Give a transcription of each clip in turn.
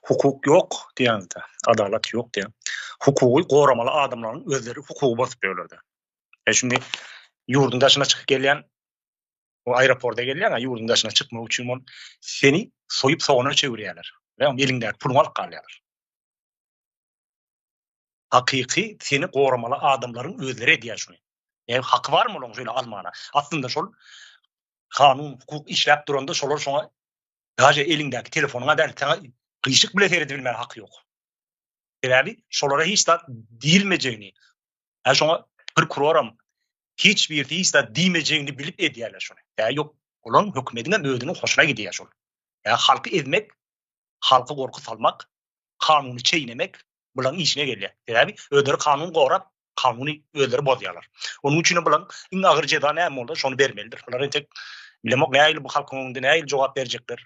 Hukuk ýok diýenizde, adalat ýok diýen. Hukugy goramaly adamlaryň özleri hukugy bozup ýörlerde. E şindi ýurduň daşyna çykyp gelýän o aeroporta gelýän, ýurduň daşyna çykmak üçin ol seni soýup sogana çevirýärler. Ýa eliňdäki puluňy alyp galýarlar. Hakyky seni goramaly adamlaryň özleri edýär şuny. E haky barmy olaň şeýle almana? Aslynda şol kanun, hukuk işläp duranda şolar şoňa Daže eliňdäki telefonuňa däl, saňa gyşyk bile seredip bilmäge haky ýok. Sebäbi şolara hiç zat diýilmejegini, ha şoňa prokuroram hiç bir hiç zat diýmejegini bilip edýärler şony. Ýa ýok, olaň hökümetiň hem özüniň hoşuna gidýär şol. Ýa halky ezmek, halky gorky salmak, kanuny çeýnemek bulaň işine gelýär. Sebäbi özleri kanun gorap, kanuny özleri bozýarlar. Onuň üçin hem bularyň iň agyr jeza näme bolsa, şony bermelidir. Bular entek bilemok, nähili bu halkyň öňünde nähili jogap berjekler.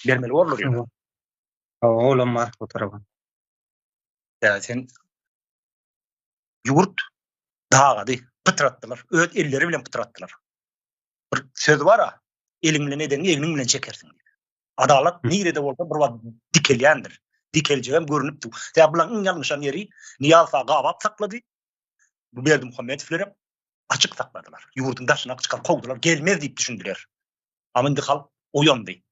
Bermeli bolurlar ýöne. Hawa, olam bar bu tarapa. Ýa sen ýurt dagady, pytratdylar, öz elleri bilen pytratdylar. Bir söz bar-a, eliň bilen edeniňi egniň bilen çekersiň. Adalat nirede bolsa bir wagt dikelýändir. Dikeljegem görünipdi. Sebäbi bularyň iň ýalňyşan ýeri Niýaz aga gabap saklady. Bu Berdi Muhammedowler hem açyk sakladylar. Ýurduň daşyna çykan kowdular, gelmez diýip düşündiler. Ama indi halk oýandy.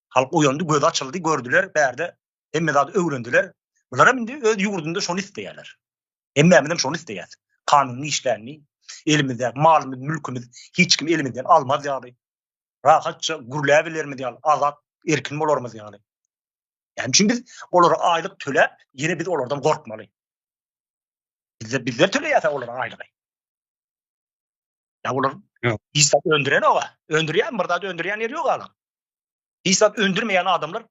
Halk oýandy, gözi açyldy, gördüler, bärde hemme zady öwrendiler. Bular hem indi öz ýurdunda şony isleýärler. Hemmämiz hem şony isleýäs. Kanunyň işlänini, elimizde malymyz, mülkümiz hiç kim elimizden almaz ýaly. rahatça gürläbilerimiz ýaly, azat, erkin bolarymyz ýaly. Ýani üçin biz olara aýlyk töläp, ýene biz olardan gorkmaly. Bizde bizler töleýäs olara aýlygy. Ýa olar hiç zat öndüren oga, öndürýän bir zat öndürýän ýeri ýok alan. Hiç zat öndürmeýän adamlar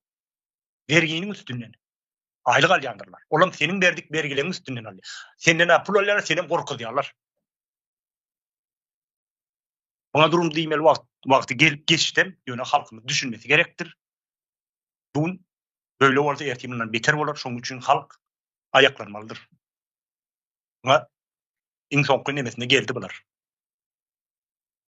berginiň üstünden aýlyk alýandyrlar. Olam seniň berdik bergileriň üstünden alýar. Senden pul alýar, seni gorkuzýarlar. Muňa durum diýmeli wagt wagty gelip geçdem, ýöne halkymyz düşünmesi gerekdir. Bu gün böyle bolsa erti mundan beter bolar, şonuň üçin halk aýaklanmalydyr. Muňa iň soňky nemesine geldi bular.